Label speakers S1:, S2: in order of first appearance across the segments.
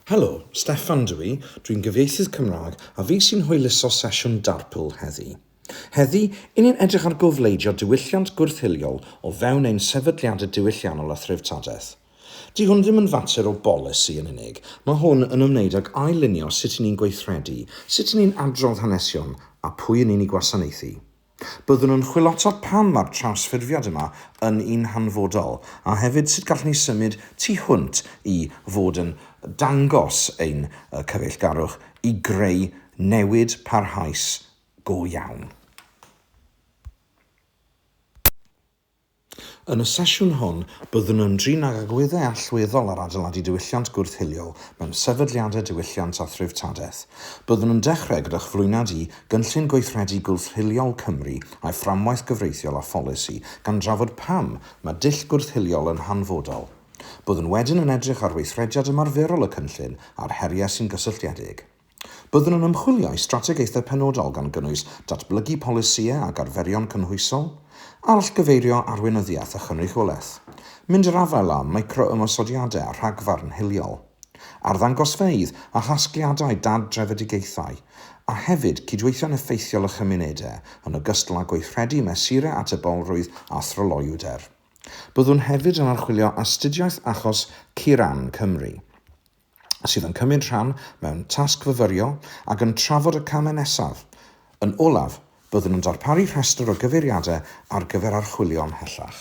S1: Helo, Steffan ydw i, dw i'n gyfieithydd Cymraeg a fi sy'n hwyluso sesiwn Darpl heddi. Heddi, i ni'n edrych ar gofleidio diwylliant gwrth-hiliol o fewn ein sefydliadau diwylliannol a threftadaeth. Di hwn ddim yn fater o bolisi yn unig, mae hwn yn ymwneud ag ail-lunio sut i ni'n gweithredu, sut i ni'n adrodd hanesion a pwy i ni'n i gwasanaethu. Byddwn yn chwilota pam mae'r trawsffurfiad yma yn un hanfodol, a hefyd sut gallwn ni symud tu hwnt i fod yn dangos ein cyfeillgarwch i greu newid parhaus go iawn. Yn y sesiwn hwn, byddwn yn drin ag agweddau allweddol ar adeiladu diwylliant gwrth-hiliol mewn sefydliadau diwylliant a threftadaeth. Byddwn yn dechrau gyda chyflwyniad i Gynllun Gweithredu Gwrth-hiliol Cymru a'i fframwaith gyfreithiol a pholisi, gan drafod pam mae dull gwrth-hiliol yn hanfodol. Byddwn wedyn yn edrych ar weithrediad ymarferol y cynllun a'r heriau sy'n gysylltiedig. Byddwn yn ymchwilio i strategaethau penodol gan gynnwys datblygu polisïau ac arferion cynhwysol, arallgyfeirio arweinyddiaeth a chynrychiolaeth, mynd i'r afael â micro-ymosodiadau a rhagfarn hiliol, arddangosfeydd a chasgliadau dad-drefedigaethau, a hefyd cydweithio'n effeithiol â chymunedau, yn ogystal â gweithredu mesurau atebolrwydd a thryloywder. Byddwn hefyd yn archwilio astudiaeth achos Kiran, Cymru. sydd yn cymryd rhan mewn tasg fyfyrio ac yn trafod y camau nesaf. Yn olaf, byddwn yn darparu rhestr o gyfeiriadau ar gyfer archwilio ymhellach.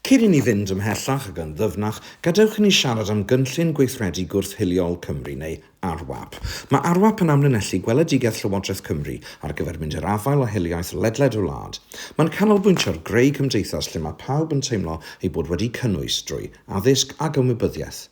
S1: Cyn i ni fynd ymhellach ac yn ddyfnach, gadewch i ni siarad am Gynllun Gweithredu Gwrth-hiliol Cymru, neu ARWAP. Mae ARWAP yn amlinellu gweledigaeth Llywodraeth Cymru ar gyfer mynd i'r afael â hiliaeth ledled y wlad. Mae'n canolbwyntio ar greu cymdeithas lle mae pawb yn teimlo eu bod wedi'u cynnwys drwy addysg ac ymwybyddiaeth.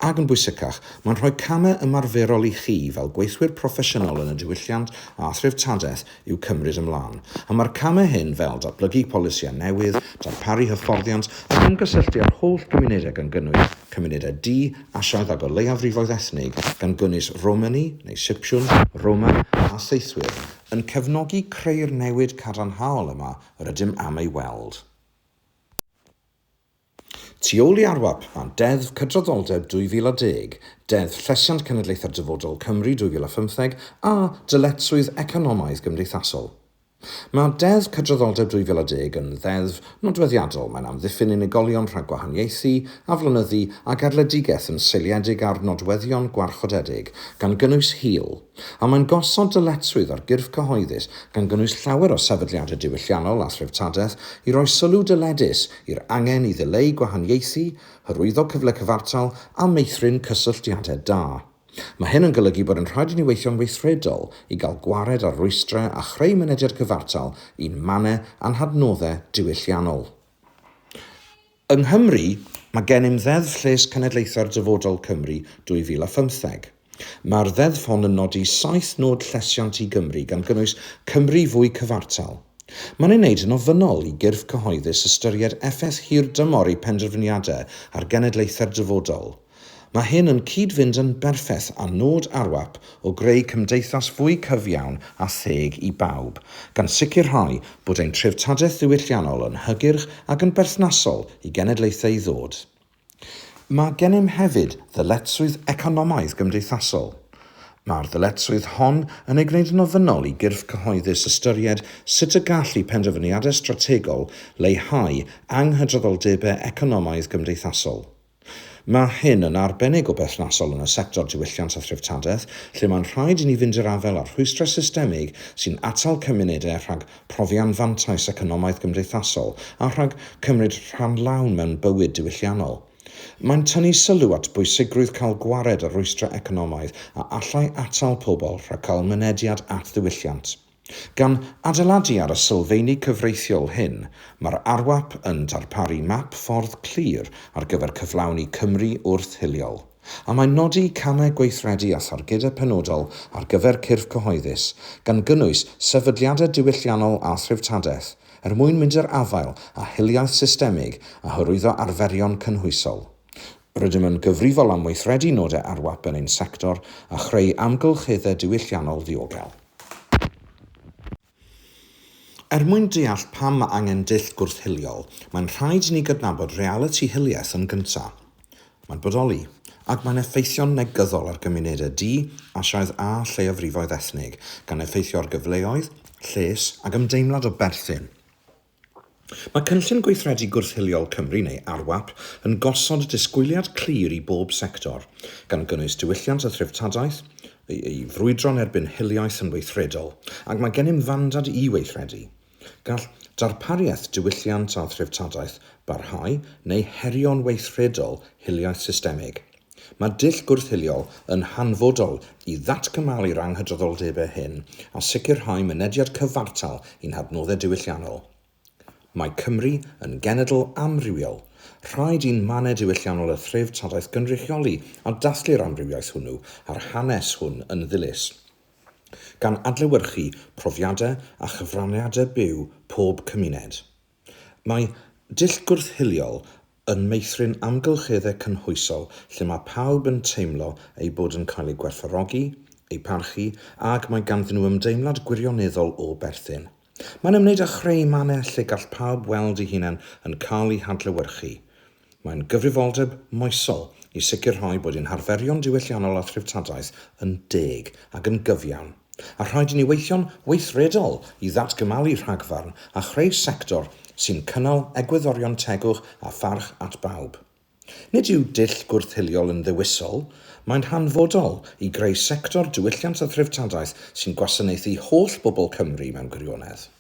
S1: Ac yn bwysicach, mae'n rhoi camau ymarferol i chi fel gweithwyr proffesiynol yn y diwylliant a threftadaeth i'w cymryd ymlaen, a mae'r camau hyn fel datblygu polisïau newydd, darparu hyfforddiant ac ymgysylltu â'r holl gymunedau gan gynnwys cymunedau du, Asiaidd ac o leiafrifoedd ethnig, gan gynnwys Romani neu Sipsiwn, Roma a Saethwyr, yn cefnogi creu'r newid cadarnhaol yma yr ydym am ei weld. Tu ôl i ARWAP, fan Deddf Cydraddoldeb 2010, Deddf Llesiant Cenedlaethau'r Dyfodol, Cymru 2015 a dyletswydd economaidd gymdeithasol. Mae Deddf Cydraddoldeb 2010 yn ddeddf nodweddiadol, mae'n amddiffyn unigolion rhag gwahaniaethu, aflonyddu a gadledigaeth yn seiliedig ar nodweddion gwarchodedig, gan gynnwys hil, a mae'n gosod dyletswydd ar gyrff cyhoeddus, gan gynnwys llawer o sefydliadau diwylliannol a threftadaeth, i roi sylw dyledus i'r angen i ddileu gwahaniaethu, hyrwyddo cyfle cyfartal a meithrin cysylltiadau da. Mae hyn yn golygu bod yn rhaid i ni weithio'n weithredol i gael gwared ar rwystrau a chreu mynediad cyfartal i'n mannau a'n hadnoddau diwylliannol. Yng Nghymru, mae gennym Ddeddf Lles Cenedlaethau'r Dyfodol, Cymru, 2015. Mae'r Ddeddf hon yn nodi saith nod llesiant i Gymru, gan gynnwys Cymru fwy cyfartal. Mae'n ei wneud yn ofynnol i gyrff cyhoeddus ystyried effaith hirdymor eu penderfyniadau ar genedlaethau'r dyfodol. Mae hyn yn cyd-fynd yn berffaith â nod ARWAP o greu cymdeithas fwy cyfiawn a theg i bawb, gan sicrhau bod ein treftadaeth ddiwylliannol yn hygyrch ac yn berthnasol i genedlaethau i ddod. Mae gennym hefyd ddyletswydd economaidd-gymdeithasol. Mae'r ddyletswydd hon yn ei gwneud yn ofynnol i gyrff cyhoeddus ystyried sut y gall eu penderfyniadau strategol leihau anghydraddoldebau economaidd-gymdeithasol. Mae hyn yn arbennig o berthnasol yn y sector diwylliant a threftadaeth, lle mae'n rhaid i ni fynd i'r afael â'r rhwystrau systemig sy'n atal cymunedau rhag profi anfantais economaidd gymdeithasol a rhag cymryd rhan lawn mewn bywyd diwylliannol. Mae'n tynnu sylw at bwysigrwydd cael gwared ar rwystrau economaidd a allai atal pobl rhag cael mynediad at ddiwylliant. Gan adeiladu ar y sylfeini cyfreithiol hyn, mae'r ARWAP yn darparu map ffordd clir ar gyfer cyflawni Cymru wrth-hiliol. A mae'n nodi camau gweithredu a thargedau penodol ar gyfer cyrff cyhoeddus, gan gynnwys sefydliadau diwylliannol a threftadaeth, er mwyn mynd i'r afael â hiliaeth systemig a hyrwyddo arferion cynhwysol. Rydym yn gyfrifol am weithredu nodau ARWAP yn ein sector a chreu amgylcheddau diwylliannol ddiogel. Er mwyn deall pam mae angen dull gwrth-hiliol, mae'n rhaid i ni gydnabod realiti hiliaeth yn gyntaf. Mae'n bodoli, ac mae'n effeithio'n negyddol ar gymunedau du, Asiaidd a lleiafrifoedd ethnig, gan effeithio ar gyfleoedd, lles, ac ymdeimlad o berthyn. Mae Cynllun Gweithredu Gwrth-hiliol Cymru, neu ARWAP, yn gosod disgwyliad clir i bob sector, gan gynnwys diwylliant a threftadaeth, i frwydro'n erbyn hiliaeth yn weithredol, ac mae gennym fandad i weithredu. Gall darpariaeth diwylliant a threftadaeth barhau neu herio'n weithredol hiliaeth systemig. Mae dull gwrth-hiliol yn hanfodol i ddatgymalu'r anghydraddoldebau hyn a sicrhau mynediad cyfartal i'n hadnoddau diwylliannol. Mae Cymru yn genedl amrywiol. Rhaid i'n mannau diwylliannol a threftadaeth gynrychioli a dathlu'r amrywiaeth hwnnw a'r hanes hwn yn ddilys, gan adlewyrchu profiadau a chyfraniadau byw pob cymuned. Mae dull gwrth-hiliol yn meithrin amgylcheddau cynhwysol lle mae pawb yn teimlo eu bod yn cael eu gwerthfawrogi, eu parchu, ac mae ganddyn nhw ymdeimlad gwirioneddol o berthyn. Mae'n ymwneud â chreu mannau lle gall pawb weld eu hunain yn cael eu hadlewyrchu. Mae'n gyfrifoldeb moesol i sicrhau bod ein harferion diwylliannol a threftadaeth yn deg ac yn gyfiawn, a rhaid i ni weithio'n weithredol i ddatgymalu rhagfarn a chreu sector sy'n cynnal egwyddorion tegwch a pharch at bawb. Nid yw dull gwrth-hiliol yn ddewisol, mae'n hanfodol i greu sector diwylliant a threftadaeth sy'n gwasanaethu holl bobl Cymru mewn gwirionedd.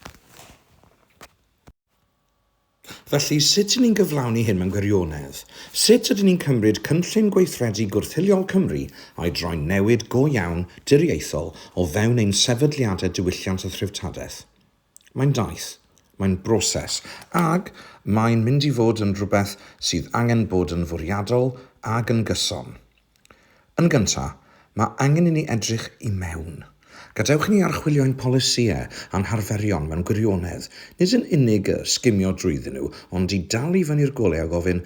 S1: Felly, sut y'n ni'n cyflawni hyn mewn gwirionedd? Sut ydyn ni'n cymryd cynllun gweithredu gwrth-hiliol Cymru a'i droi'n newid go iawn diriaethol o fewn ein sefydliadau diwylliant a threftadaeth? Mae'n daith. Mae'n broses. Ac mae'n mynd i fod yn rhywbeth sydd angen bod yn fwriadol ac yn gyson. Yn gyntaf, mae angen i ni edrych i mewn. Gadewch i ni archwilio ein polisïau a'n harferion mewn gwirionedd, nid yn unig y sgimio drwyddyn nhw, ond i dal i fyny'r golau a gofyn,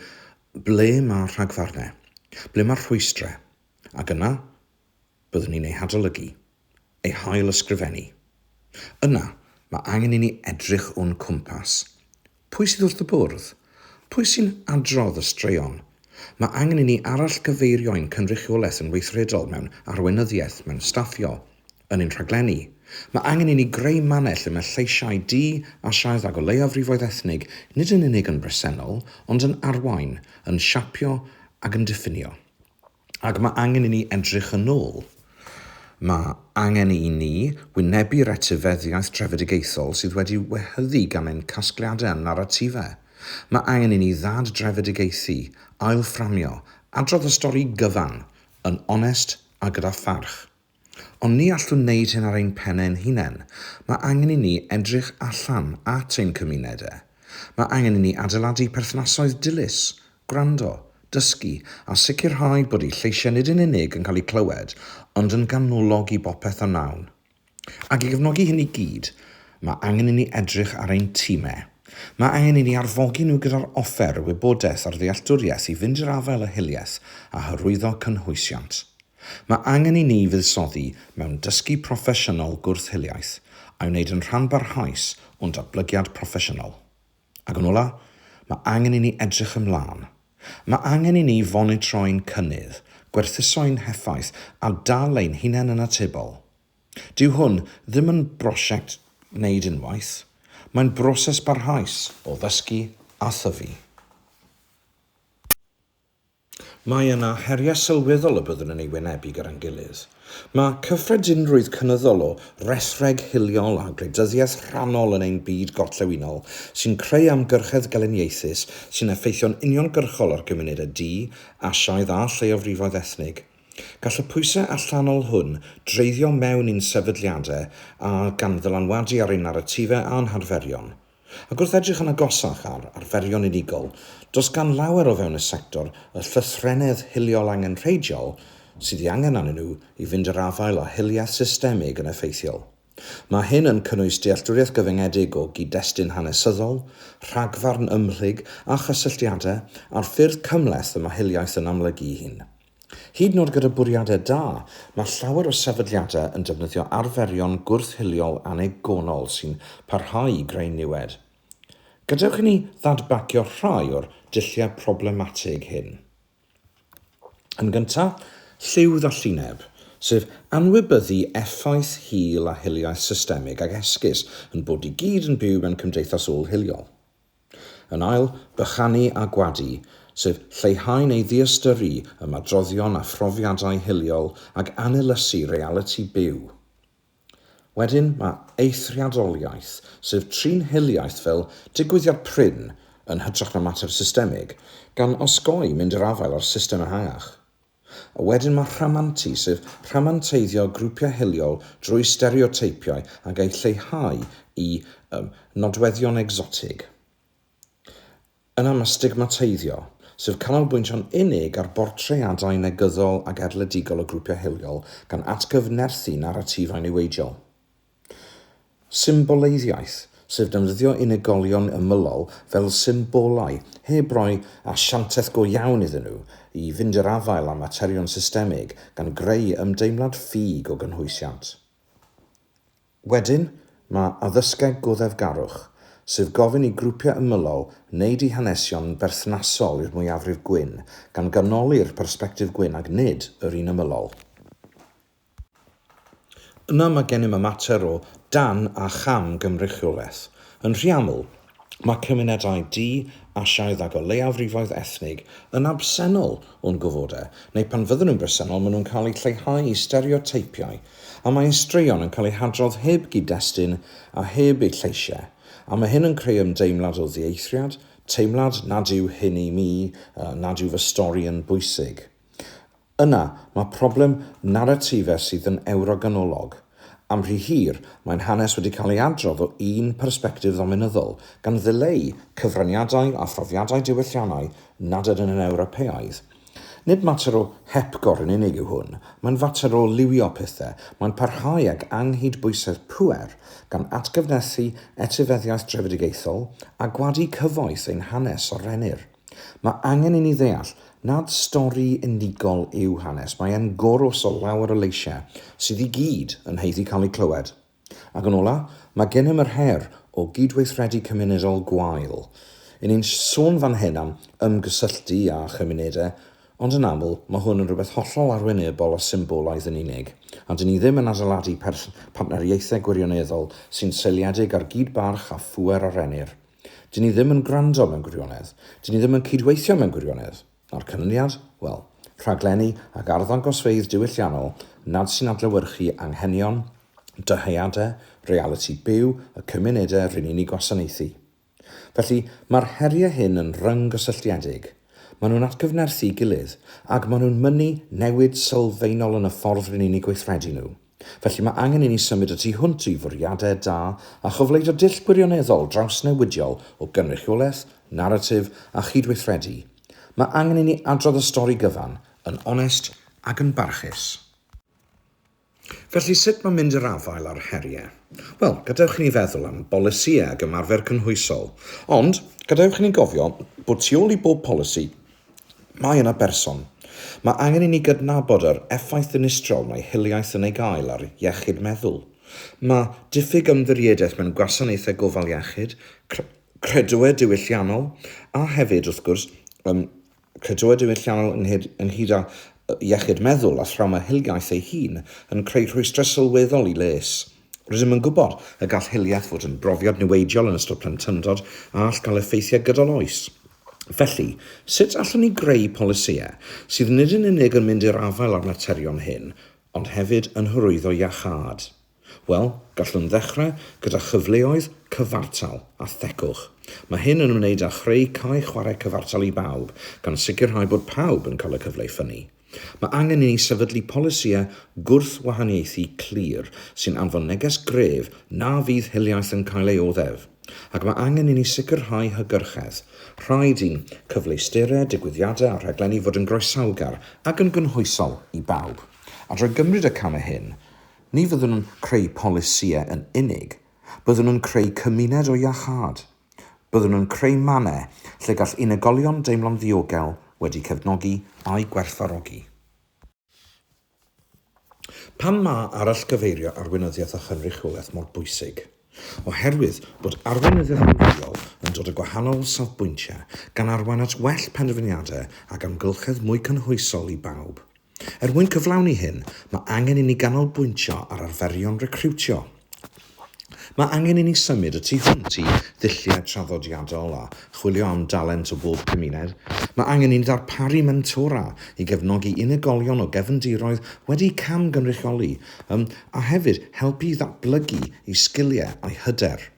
S1: 'Ble mae'r rhagfarnau? Ble mae'r rhwystrau? Ac yna, byddwn ni'n eu hadolygu. ei hail-ysgrifennu. Yna, mae angen i ni edrych o'n cwmpas. Pwy sydd wrth y bwrdd? Pwy sy'n adrodd y straeon? Mae angen i ni arallgyfeirio ein cynrychiolaeth yn weithredol mewn arweinyddiaeth, mewn staffio, yn ein rhaglenni. Mae angen i ni greu mannau lle mae lleisiau du, Asiaidd ac o leiafrifoedd ethnig nid yn unig yn bresennol, ond yn arwain, yn siapio ac yn diffinio. Ac mae angen i ni edrych yn ôl. Mae angen i ni wynebu'r etifeddiaeth drefedigaethol sydd wedi wehyddu gan ein casgliadau a'n naratifau. Mae angen i ni ddad-drefedigaethu, ail-fframio, adrodd y stori gyfan, yn onest a gyda pharch. Ond ni allwn wneud hyn ar ein pen ein hunain. Mae angen i ni edrych allan at ein cymunedau. Mae angen i ni adeiladu perthnasoedd dilys, gwrando, dysgu a sicrhau bod eu lleisiau nid yn unig yn cael eu clywed ond yn ganolog i bopeth a wnawn. Ac i gefnogi hyn i gyd, mae angen i ni edrych ar ein timau. Mae angen i ni arfogi nhw gyda'r offer, y wybodaeth a'r ddealltwriaeth i fynd i'r afael â hiliaeth a hyrwyddo cynhwysiant. Mae angen i ni fuddsoddi mewn dysgu proffesiynol gwrth-hiliaeth a'i wneud yn rhan barhaus o'n datblygiad proffesiynol. Ac yn ola', mae angen i ni edrych ymlaen. Mae angen i ni fonitro'n cynnydd, gwerthuso'n heffaith a dal ein hunain yn atebol. Dyw hwn ddim yn brosiect wneud unwaith, mae'n broses barhaus o ddysgu a thyfu. Mae yna heriau sylweddol y byddwn yn eu wynebu gyda'n gilydd. Mae cyffredinrwydd cynyddol o resreg hiliol a gwleidyddiaeth rhannol yn ein byd gorllewinol sy'n creu amgyrchedd geleniaethus sy'n effeithio'n uniongyrchol ar gymunedau du, Asiaidd a lleiofrifoedd ethnig. Gall y pwysau allanol hwn dreiddio mewn i'n sefydliadau a gan ddylanwadu ar ein naratifau a'n harferion. Ac wrth edrych yn agosach ar arferion unigol, does gan lawer o fewn y sector y llythrennedd hiliol angenrheidiol sydd ei angen arnyn nhw i fynd i'r afael â hiliaeth systemig yn effeithiol. Mae hyn yn cynnwys dealltwriaeth gyfyngedig o gyd-destun hanesyddol, rhagfarn ymhlyg a chysylltiadau, a'r ffyrdd cymhleth y mae hiliaeth yn amlygu'i hun. Hyd yn oed gyda bwriadau da, mae llawer o sefydliadau yn defnyddio arferion gwrth-hiliol annigonol sy'n parhau i greu niwed. Gadewch i ni ddadbagio rhai o'r dulliau problematig hyn. Yn gyntaf, lliw ddallineb, sef anwybyddu effaith hil a hiliaeth systemig ac esgus ein bod i gyd yn byw mewn cymdeithas ôl-hiliol. Yn ail, bychanu a gwadu, sef lleihau neu ddiystyru ymadroddion a phrofiadau hiliol ac anylysu realiti byw. Wedyn, mae eithriadoliaeth, sef trin hiliaeth fel digwyddiad prin yn hytrach na mater systemig, gan osgoi mynd i'r afael â'r system ehangach. A wedyn mae rhamantu, sef rhamanteiddio grwpiau hiliol drwy stereoteipiau ac eu lleihau i um, nodweddion egsotig. Yna mae stigmateiddio, sef canolbwyntio'n unig ar bortreadau negyddol ac erledigol o grwpiau hiliol gan atgyfnerthu naratifau niweidiol. Symboleiddiaeth, sef defnyddio unigolion ymylol fel symbolau, heb roi asiantaeth go iawn iddyn nhw, i fynd i'r afael â materion systemig, gan greu ymdeimlad ffug o gynhwysiant. Wedyn, mae addysgeg goddefgarwch, sef gofyn i grwpiau ymylol wneud eu hanesion berthnasol i'r mwyafrif gwyn, gan ganoli'r persbectif gwyn ac nid yr un ymylol. Yna mae gennym y mater o dan a cham gynrychiolaeth. Yn rhy aml, mae cymunedau du, Asiaidd ac o leiafrifoedd ethnig yn absennol o'n gofodau, neu pan fydden nhw'n bresennol maen nhw'n cael eu lleihau i stereoteipiau, a mae ein straeon yn cael eu hadrodd heb gyd-destun a heb eu lleisiau, a mae hyn yn creu ymdeimlad o ddieithriad, teimlad nad yw hyn i mi, nad yw fy stori yn bwysig. Yna, mae problem naratifau sydd yn Ewroganolog. Am rhy hir, mae'n hanes wedi cael ei adrodd o un persbectif ddominyddol, gan ddileu cyfraniadau a phrofiadau diwylliannau nad ydyn yn Ewropeaidd. Nid mater o hepgor yn unig yw hwn, mae'n fater o liwio pethau, mae'n parhau ag anghydbwysedd pŵer, gan atgyfnerthu etifeddiaeth drefedigaethol a gwadu cyfoeth ein hanes a rennir. Mae angen i ni ddeall nad stori unigol yw hanes, mae e'n gorws o lawer o leisiau sydd i gyd yn haeddu cael eu clywed. Ac yn ola, mae gennym yr her o gydweithredu cymunedol gwael. Yn ni'n sôn fan hyn am ymgysylltu â chymunedau, ond yn aml mae hwn yn rhywbeth hollol arwynebol a symbolaidd yn unig, a dyn ni ddim yn adeiladu partneriaethau gwirioneddol sy'n seiliedig ar gyd-barch a phŵer a rennir. Dyn ni ddim yn gwrando mewn gwirionedd. Dyn ni ddim yn cydweithio mewn gwirionedd. A'r canlyniad? Wel, rhaglenni ac arddangosfeydd diwylliannol nad sy'n adlewyrchu anghenion, dyheadau, realiti byw y cymunedau rŷn ni'n eu gwasanaethu. Felly, mae'r heriau hyn yn ryng-gysylltiedig. Maen nhw'n atgyfnerthu'i gilydd, ac maen nhw'n mynnu newid sylfaenol yn y ffordd rŷn ni'n eu gweithredu nhw. Felly mae angen i ni symud y tu hwnt i fwriadau da a chyfleoedd o dull gwirioneddol drawsnewidiol o gynrychiolaeth, naratif a chydweithredu. Mae angen i ni adrodd y stori gyfan, yn onest ac yn barchus. Felly, sut mae mynd i'r afael â'r heriau? Wel, gadewch i ni feddwl am bolisïau ac ymarfer cynhwysol. Ond, gadewch i ni gofio bod tu ôl i bob polisi Mae yna berson. Mae angen i ni gydnabod yr effaith ddinistrol mae hiliaeth yn ei gael ar iechyd meddwl. Mae diffyg ymddiriedaeth mewn gwasanaethau gofal iechyd, credoau diwylliannol, a hefyd, wrth gwrs, ym, credoau diwylliannol ynghyd, ynghyd â iechyd meddwl a thrawma hiliaeth ei hun, yn creu rhwystrau sylweddol i les. Rydym yn gwybod y gall hiliaeth fod yn brofiad niweidiol yn ystod plentyndod a all gael effeithiau gydol oes. Felly, sut allwn ni greu polisïau sydd nid yn unig yn mynd i'r afael â'r materion hyn, ond hefyd yn hyrwyddo iachâd? Wel, gallwn ddechrau gyda chyfleoedd cyfartal a thegwch. Mae hyn yn ymwneud â chreu cae chwarae cyfartal i bawb, gan sicrhau bod pawb yn cael y cyfle i ffynnu. Mae angen i ni sefydlu polisïau gwrthwahaniaethu clir sy'n anfon neges gref na fydd hiliaeth yn cael ei oddef, ac mae angen i ni sicrhau hygyrchedd. Rhaid i'n cyfleusterau, digwyddiadau a rhaglenni fod yn groesawgar ac yn gynhwysol i bawb. A drwy gymryd y camau hyn, ni fyddwn yn creu polisïau yn unig, byddwn yn creu cymuned o iachâd. Byddwn yn creu mannau lle gall unigolion deimlo'n ddiogel, wedi cefnogi a'u gwerthfawrogi. Pam mae arallgyfeirio arweinyddiaeth a chynrychiolaeth mor bwysig? Oherwydd bod arweinyddiaeth amrywiol yn dod o gwahanol safbwyntiau, gan arwain at well penderfyniadau ac amgylchedd mwy cynhwysol i bawb. Er mwyn cyflawni hyn, mae angen i ni ganolbwyntio ar arferion recriwtio. Mae angen i ni symud y tu hwnt i ddulliau traddodiadol a chwilio am dalent o bob cymuned. Mae angen i ni ddarparu mentora i gefnogi unigolion o gefndiroedd wedi camgynrychioli, yym, a hefyd helpu i ddatblygu eu sgiliau a'u hyder.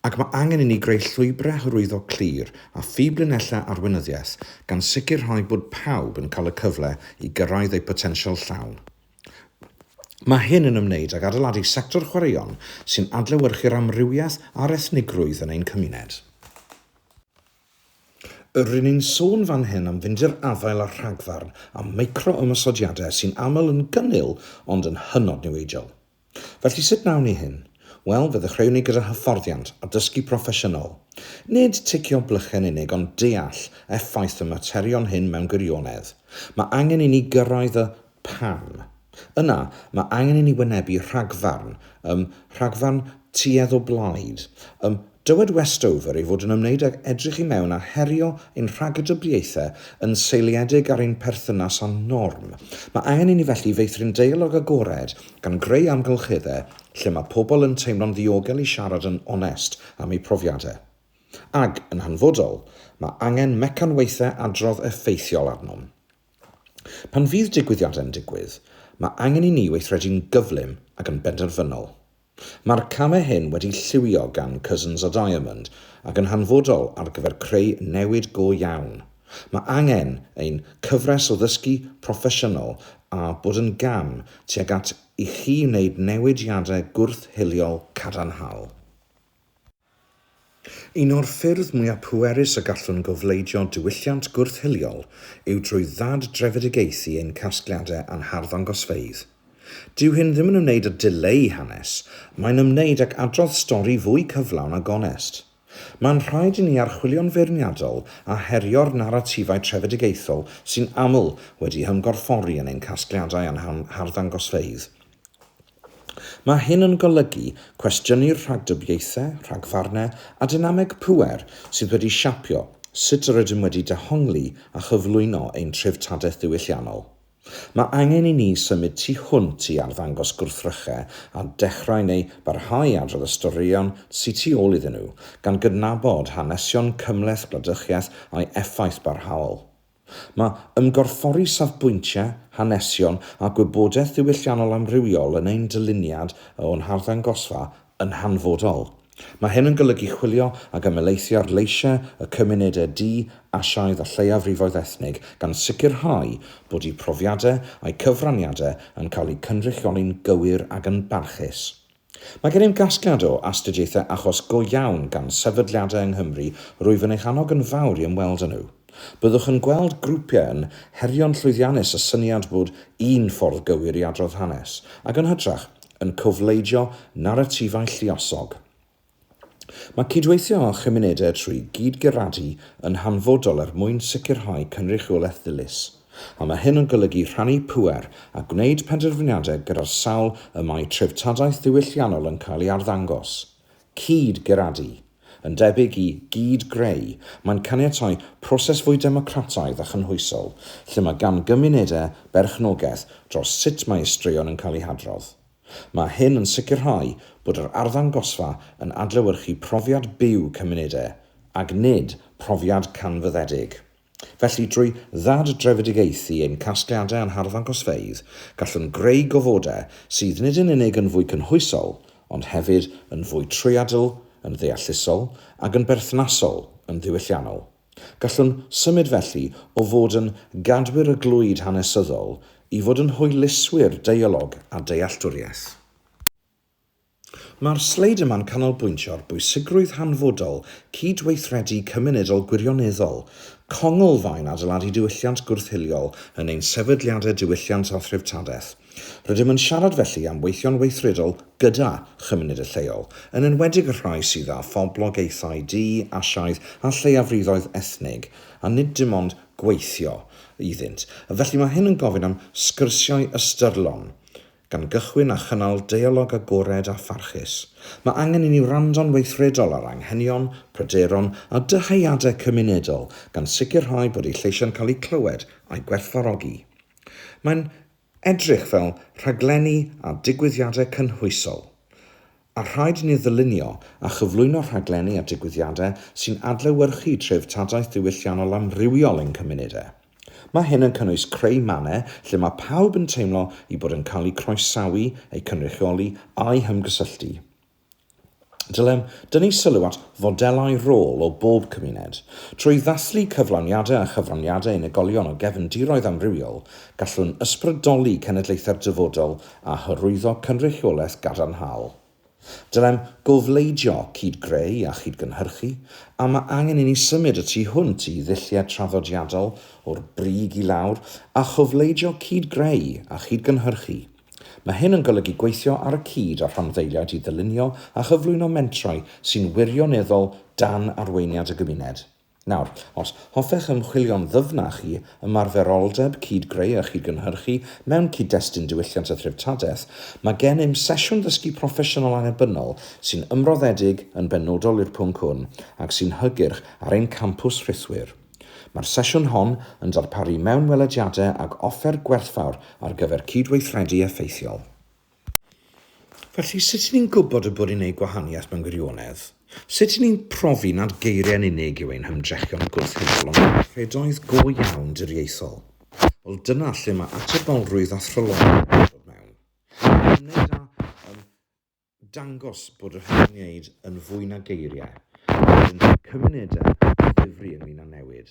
S1: ac mae angen i ni greu llwybrau hyrwyddo clir a phiblinellau arweinyddiaeth gan sicrhau bod pawb yn cael y cyfle i gyrraedd eu potensial llawn. Mae hyn yn ymwneud ag adeiladu sector chwaraeon sy'n adlewyrchu'r amrywiaeth a'r ethnigrwydd yn ein cymuned. Ry'n ni'n sôn fan hyn am fynd i'r afael â rhagfarn a micro-ymosodiadau sy'n aml yn gynnil ond yn hynod niweidiol. Felly sut wnawn ni hyn? Wel, fe ddechreuwn ni gyda hyfforddiant a dysgu proffesiynol. Nid ticio blychau'n unig ond deall effaith y materion hyn mewn gwirionedd. Mae angen i ni gyrraedd y 'pam'. Yna, mae angen i ni wynebu rhagfarn, ym rhagfarn tuedd o blaid, ym Dywed Westover ei fod yn ymwneud ag edrych i mewn ar herio ein rhagdybiaethau yn seiliedig ar ein perthynas â norm. Mae angen i ni felly feithrin deialog agored gan greu amgylcheddau lle mae pobl yn teimlo'n ddiogel i siarad yn onest am eu profiadau. Ac, yn hanfodol, mae angen mecanwaethau adrodd effeithiol arnom. Pan fydd digwyddiadau'n digwydd, mae angen i ni weithredu'n gyflym ac yn benderfynol. Mae'r camau hyn wedi lliwio gan Cousins a Diamond ac yn hanfodol ar gyfer creu newid go iawn. Mae angen ein cyfres o ddysgu proffesiynol a bod yn gam tuag at i chi wneud newidiadau gwrth-hiliol cadarnhaol. Un o'r ffyrdd mwyaf pwerus y gallwn gofleidio diwylliant gwrth-hiliol yw trwy ddad-drefedigaethu ein casgliadau a'n harddangosfeydd. Dyw hyn ddim yn ymwneud â dileu hanes, mae'n ymwneud ac adrodd stori fwy cyflawn a gonest. Mae'n rhaid i ni archwilio'n feirniadol a herio'r naratifau trefedigaethol sy'n aml wedi'u hymgorffori yn ein casgliadau a'n harddangosfeydd. Mae hyn yn golygu cwestiynu'r rhagdybiaethau, rhagfarnau a dynameg pŵer sydd wedi siapio sut rydym wedi dehongli a chyflwyno ein treftadaeth ddiwylliannol. Mae angen i ni symud tu hwnt i arddangos gwrthrychau a dechrau neu barhau i adrodd y storïon sy tu ôl iddyn nhw, gan gydnabod hanesion cymhleth gwladychiaeth a'i effaith barhaol. Mae ymgorffori safbwyntiau, hanesion a gwybodaeth ddiwylliannol amrywiol yn ein dyluniad o'n harddangosfa yn hanfodol. Mae hyn yn golygu chwilio ac ymhelaethu ar leisiau y cymunedau du, Asiaidd a lleiafrifoedd ethnig, gan sicrhau bod eu profiadau a'u cyfraniadau yn cael eu cynrychioli'n gywir ac yn barchus. Mae gennym gasgliad o astudiaethau achos go iawn gan sefydliadau yng Nghymru rwyf yn eich annog yn fawr i ymweld â nhw. Byddwch yn gweld grwpiau yn herio'n llwyddiannus y syniad bod un ffordd gywir i adrodd hanes, ac yn hytrach, yn cofleidio naratifau lluosog. Mae cydweithio â chymunedau trwy gyd-guradu yn hanfodol er mwyn sicrhau cynrychiolaeth ddilys, a mae hyn yn golygu rhannu pŵer a gwneud penderfyniadau gyda'r sawl y mae treftadaeth ddiwylliannol yn cael ei arddangos. Cyd-guradu, yn debyg i gyd-greu, mae'n caniatáu proses fwy democrataidd a chynhwysol, lle mae gan gymunedau berchnogaeth dros sut mae eu straeon yn cael eu hadrodd. Mae hyn yn sicrhau bod yr arddangosfa yn adlewyrchu profiad byw cymunedau, ac nid profiad canfyddedig. Felly, drwy ddad-drefedigaethu ein casgliadau a'n harddangosfeydd, gallwn greu gofodau sydd nid yn unig yn fwy cynhwysol, ond hefyd yn fwy trwyadl, yn ddeallusol, ac yn berthnasol, yn ddiwylliannol. Gallwn symud felly o fod yn gadwyr y glwyd hanesyddol i fod yn hwyluswyr deialog a dealltwriaeth. Mae'r sleid yma'n canolbwyntio ar bwysigrwydd hanfodol cyd-weithredu cymunedol gwirioneddol, congl-faen adeiladu diwylliant gwrth-hiliol yn ein sefydliadau diwylliant a threftadaeth, Rydym yn siarad felly am weithio'n weithredol gyda chymuned y lleol, yn enwedig y rhai sydd â phoblogaethau du, Asiaidd a lleiafrifoedd ethnig, a nid dim ond gweithio iddynt. Felly mae hyn yn gofyn am sgyrsiau ystyrlon, gan gychwyn â chynnal deialog agored a pharchus. Mae angen i ni wrando'n weithredol ar anghenion, pryderon a dyheadau cymunedol, gan sicrhau bod eu lleisiau'n cael eu clywed a'u gwerthfawrogi. Mae'n edrych fel rhaglenni a digwyddiadau cynhwysol, a rhaid i ni ddylunio a chyflwyno rhaglenni a digwyddiadau sy'n adlewyrchu treftadaeth ddiwylliannol amrywiol ein cymunedau. Mae hyn yn cynnwys creu mannau lle mae pawb yn teimlo eu bod yn cael eu croesawu, eu cynrychioli a'u hymgysylltu. Dylem dynnu sylw at fodelau rôl o bob cymuned. Trwy ddathlu cyflawniadau a chyfraniadau unigolion o gefn diroedd amrywiol, gallwn ysbrydoli cenedlaethau'r dyfodol a hyrwyddo cynrychiolaeth gadarnhaol. Dylem gofleidio, cyd-greu a chyd-gynhyrchu, a mae angen i ni symud y tu hwnt i ddulliau traddodiadol, o'r brig i lawr, a chofleidio cyd-greu a chyd-gynhyrchu. Mae hyn yn golygu gweithio ar y cyd â rhanddeiliaid i ddylunio a chyflwyno mentrau sy'n wirioneddol dan arweiniad y gymuned. Nawr, os hoffech ymchwilio'n ddyfnach i ymarferoldeb cyd-greu a chyd-gynhyrchu mewn cyd-destun diwylliant a threftadaeth, mae gennym sesiwn ddysgu proffesiynol annibynnol sy'n ymroddedig yn benodol i'r pwnc hwn ac sy'n hygyrch ar ein campws rhithwir. Mae'r sesiwn hon yn darparu mewnwelediadau ac offer gwerthfawr ar gyfer cydweithredu effeithiol. Felly, sut y'n ni'n gwybod y bod ni'n gwneud gwahaniaeth mewn gwirionedd? Sut y'n ni'n profi nad geiriau yn unig yw ein hymdrechion gwrth-hudol ond gweithredoedd go iawn diriaethol? Wel, dyna lle mae atebolrwydd a thryloywder yn dod mewn. Mae'n ymwneud â dangos bod yr hyn yn wneud yn fwy na geiriau, mae e'n rhoi cymunedau o ddifri ynglŷn â newid.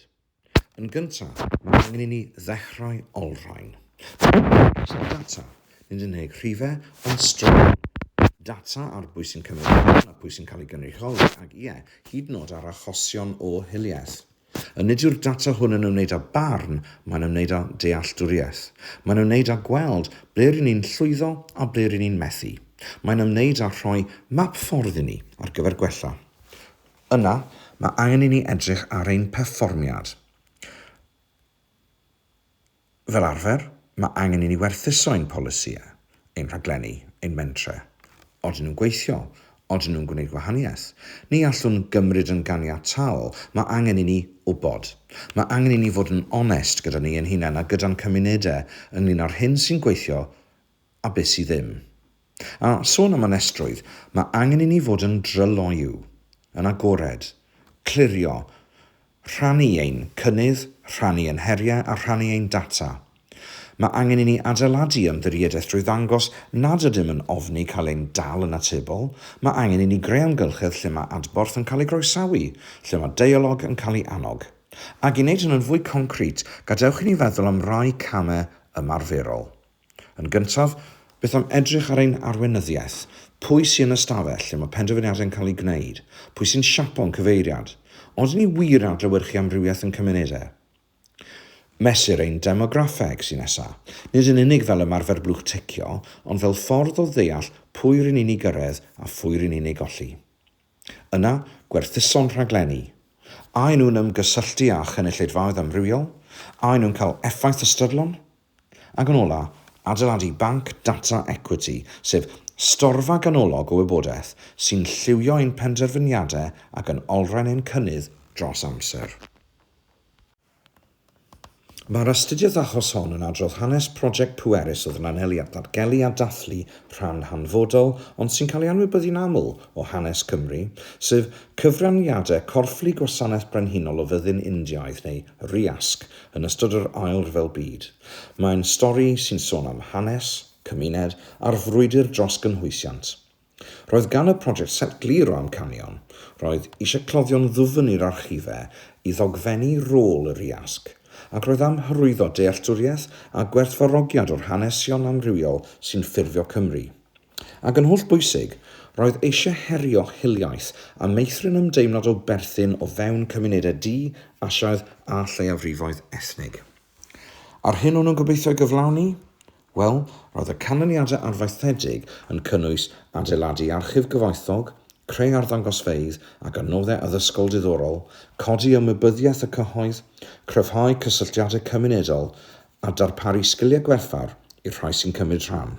S1: Yn gyntaf, mae angen i ni ddechrau olrhain. Mae angen atal data, nid yn unig rhifau, ond straeon data ar bwy sy'n cymryd rhan a phwy sy'n cael ei gynrychioli ac, ie, hyd yn oed ar achosion o hiliaeth. A nid yw'r data hwn yn ymwneud â barn, mae'n ymwneud â dealltwriaeth. Mae'n ymwneud â gweld ble ry'n ni'n llwyddo a ble ry'n ni'n methu. Mae'n ymwneud â rhoi map ffordd i ni ar gyfer gwella. Yna, mae angen i ni edrych ar ein perfformiad. Fel arfer, mae angen i ni werthuso ein polisïau, ein rhaglenni, ein mentre. Odyn nhw'n gweithio? Odyn nhw'n gwneud gwahaniaeth? Ni allwn gymryd yn ganiataol, mae angen i ni wybod. Mae angen i ni fod yn onest gyda ni ein hunain a gyda'n cymunedau ynglŷn â'r hyn sy'n gweithio a be sy ddim. A sôn am anestrwydd, mae angen i ni fod yn dryloyw, yn agored, clirio, rhannu ein cynnydd, rhannu ein heriau a rhannu ein data. Mae angen i ni adeiladu ymddiriedaeth drwy ddangos nad ydym yn ofni cael ein dal yn atebol, mae angen i ni greu amgylchedd lle mae adborth yn cael ei groesawu, lle mae deialog yn cael ei annog. Ac i wneud hyn yn fwy concrit, gadewch i ni feddwl am rai camau ymarferol. Yn gyntaf, beth am edrych ar ein arweinyddiaeth? Pwy sy yn y stafell lle mae penderfyniadau yn cael eu gwneud? Pwy sy'n siapo'n cyfeiriad? Odyn ni wir yn adlewyrchu amrywiaeth yn cymunedau? Mesur ein demograffeg sy'n nesaf, nid yn unig fel ymarfer blwch ticio, ond fel ffordd o ddeall pwy ry'n ni'n ei gyrraedd a phwy ry'n ni'n ei golli. Yna, gwerthuso'n rhaglenni. A y'n nhw'n ymgysylltu â chynulleidfaoedd amrywiol? A y'n nhw'n cael effaith ystyrlon? Ac yn ola, adeiladu banc data ecwiti, sef storfa ganolog o wybodaeth sy'n lliwio ein penderfyniadau ac yn olrhain ein cynnydd dros amser. Mae'r astudiaeth achos hon yn adrodd hanes project pwerus o ddnanelu at ddatgelu a dathlu rhan hanfodol ond sy'n cael ei anwybyddu'n aml o hanes Cymru, sef cyfraniadau corfflu Gwasanaeth Brenhinol o Fyddin Indiaidd neu RIASC Yn ystod yr Ail Ryfel Byd, mae'n stori sy'n sôn am hanes, cymuned a'r frwydr dros gynhwysiant. Roedd gan y project set glir o amcanion, roedd eisiau cloddio'n ddwfn i'r archife i ddogfennu rôl yr iasg, ac roedd am hyrwyddo dealltwriaeth a gwerthfawrogiad o'r hanesion amrywiol sy'n ffurfio Cymru. Ac yn holl bwysig, roedd eisiau herio hiliaeth a meithrin ymdeimlad o berthyn o fewn cymunedau du, Asiaidd a lleiafrifoedd ethnig. A'r hyn o'n nhw'n gobeithio ei gyflawni? Wel, roedd y canlyniadau arfaethedig yn cynnwys adeiladu archif gyfoethog, creu arddangosfeydd ac adnoddau addysgol diddorol, codi ymwybyddiaeth y cyhoedd, cryfhau cysylltiadau cymunedol a darparu sgiliau gwerthfawr i'r rhai sy'n cymryd rhan.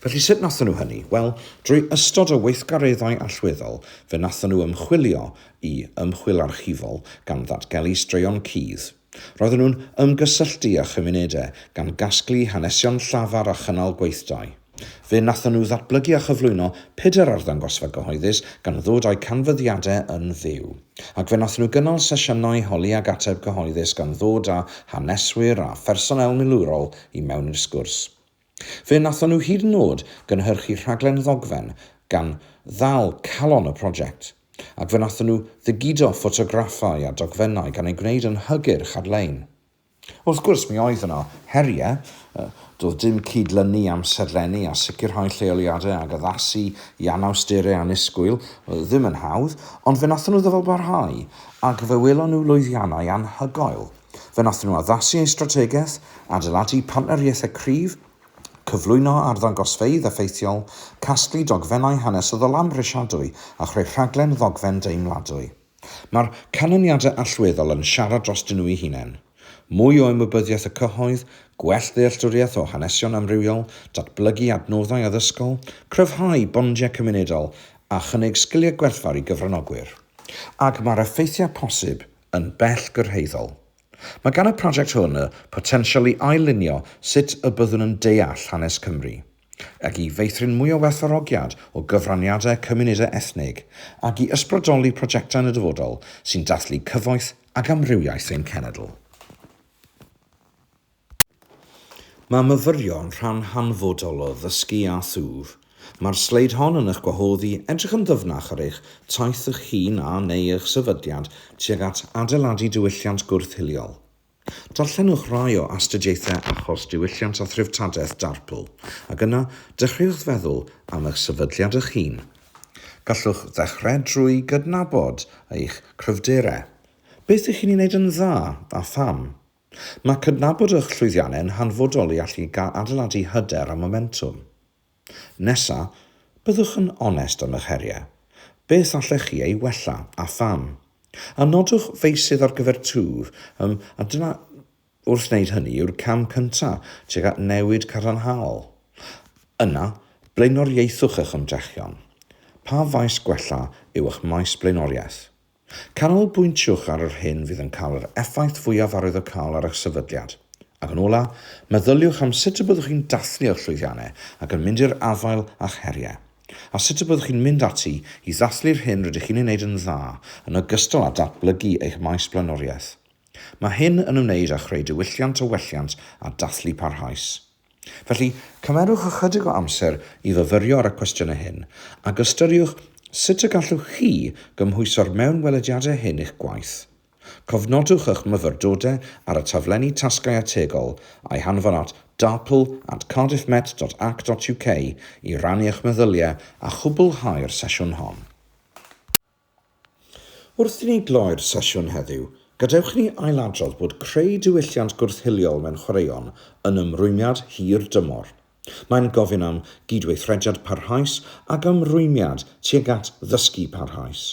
S1: Felly sut nathon nhw hynny? Wel, drwy ystod o weithgareddau allweddol, fe nathon nhw ymchwilio i ymchwil archifol gan ddatgelu straeon cudd. Roedden nhw'n ymgysylltu â chymunedau gan gasglu hanesion llafar a chynnal gweithdai. Fe nathon nhw ddatblygu a chyflwyno pedair arddangosfa gyhoeddus gan ddod â'u canfyddiadau yn fyw. Ac fe nathon nhw gynnal sesiynau holi ag ateb cyhoeddus gan ddod â haneswyr a phersonél milwrol i mewn i'r sgwrs. Fe wnaethon nhw hyd yn o'd gynhyrchu rhaglen ddogfen gan ddal calon y prosiect, ac fe wnaethon nhw ddigiddo ffotograffau a dogfennau gan eu gwneud yn hygyrch ar-lein. Wrth gwrs, mi oedd yno heriau. Doedd dim cyd-lynu amserlennu a sicrhau lleoliadau ac addasu i anawsterau annisgwyl ddim yn hawdd, ond fe wnaethon nhw ddyfalbarhau, ac fe welon nhw lwyddiannau anhygoel. Fe wnaethon nhw addasu eu strategaeth, adeiladu partneriaethau cryf, cyflwyno arddangosfeydd effeithiol, casglu dogfennau hanesyddol amhrisiadwy a chreu rhaglen ddogfen deimladwy. Mae'r canlyniadau allweddol yn siarad drostyn nhw'u hunain. Mwy o ymwybyddiaeth y cyhoedd, gwell ddealltwriaeth o hanesion amrywiol, datblygu adnoddau addysgol, cryfhau bondiau cymunedol a chynnig sgiliau gwerthfawr i gyfranogwyr. Ac mae'r effeithiau posib yn bell gyrhaeddol. Mae gan y prosiect hwn y potensial i ail-lunio sut y byddwn yn deall hanes Cymru, ac i feithrin mwy o werthfawrogiad o gyfraniadau cymunedau ethnig, ac i ysbrydoli prosiectau yn y dyfodol sy'n dathlu cyfoeth ac amrywiaeth ein cenedl. Mae myfyrio'n rhan hanfodol o ddysgu â thwf. Mae'r sleid hon yn eich gwahodd i edrych yn ddyfnach ar eich taith eich hun a, neu eich sefydliad tuag at adeiladu diwylliant gwrth-hiliol. Darllenwch rai o astudiaethau achos diwylliant a threftadaeth Darpl, ac yna dechreuwch feddwl am eich sefydliad eich hun. Gallwch ddechrau drwy gydnabod eich cryfderau. Beth ych chi'n ei wneud yn dda, a pham? Mae cydnabod eich llwyddiannau yn hanfodol i allu adeiladu hyder a momentwm. Nesa, byddwch yn onest am eich heriau. Beth allech chi ei wella, a pham? A nodwch feysydd ar gyfer twf, ym, a dyna Wrth wneud hynny yw'r cam cyntaf tuag at newid cadarnhaol. Yna, blaenoriaethwch eich ymdrechion. Pa faes gwella yw eich maes blaenoriaeth? Canolbwyntiwch ar yr hyn fydd yn cael yr effaith fwyaf arwyddocaol ar eich sefydliad. Ac yn olaf, meddyliwch am sut y byddwch chi'n dathlu eich llwyddiannau ac yn mynd i'r afael â'ch heriau. A sut y byddwch chi'n mynd ati i ddathlu'r hyn rydych chi'n ei wneud yn dda yn ogystal â datblygu eich maes blaenoriaeth. Mae hyn yn ymwneud â chreu diwylliant o welliant a dathlu parhaus. Felly, cymerwch ychydig o amser i fyfyrio ar y cwestiynau hyn, ac ystyriwch sut y gallwch chi gymhwyso'r mewnwelediadau hyn i'ch gwaith. Cofnodwch eich myfyrdodau ar y taflenni tasgau ategol, a'u hanfon at darpl at cardiffmet.ac.uk i rannu eich meddyliau a chwblhau'r sesiwn hon. Wrth i ni gloi'r sesiwn heddiw, gadewch i ni ailadrodd bod creu diwylliant gwrth-hiliol mewn chwaraeon yn ymrwymiad hir dymor. Mae'n gofyn am gydweithrediad parhaus ac ymrwymiad tuag at ddysgu parhaus.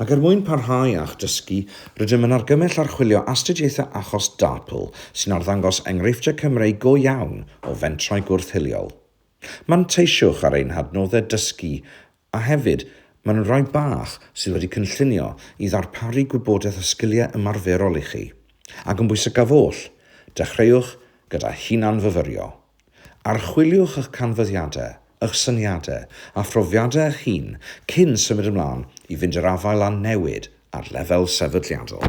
S1: Ac er mwyn parhau â'ch dysgu, rydym yn argymell archwilio astudiaethau achos DARPL sy'n arddangos enghreifftiau Cymreig go iawn o fentrau gwrth-hiliol. Manteisiwch ar ein hadnoddau dysgu A hefyd, mae yna rai bach sydd wedi cynllunio i ddarparu gwybodaeth a sgiliau ymarferol i chi, ac yn bwysicaf oll, dechreuwch gyda hunan-fyfyrio. Archwiliwch eich canfyddiadau, eich syniadau a phrofiadau eich hun cyn symud ymlaen i fynd i'r afael â newid ar lefel sefydliadol.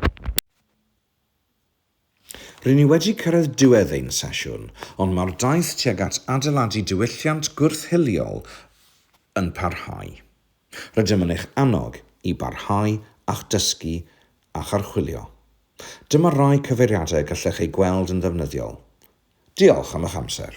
S1: Ry'n ni wedi cyrraedd diwedd ein sesiwn, ond mae'r daith tuag at adeiladu diwylliant gwrth-hiliol yn parhau. Rydym yn eich annog i barhau â'ch dysgu a'ch archwilio. Dyma rai cyfeiriadau y gallech eu gweld yn ddefnyddiol. Diolch am eich amser.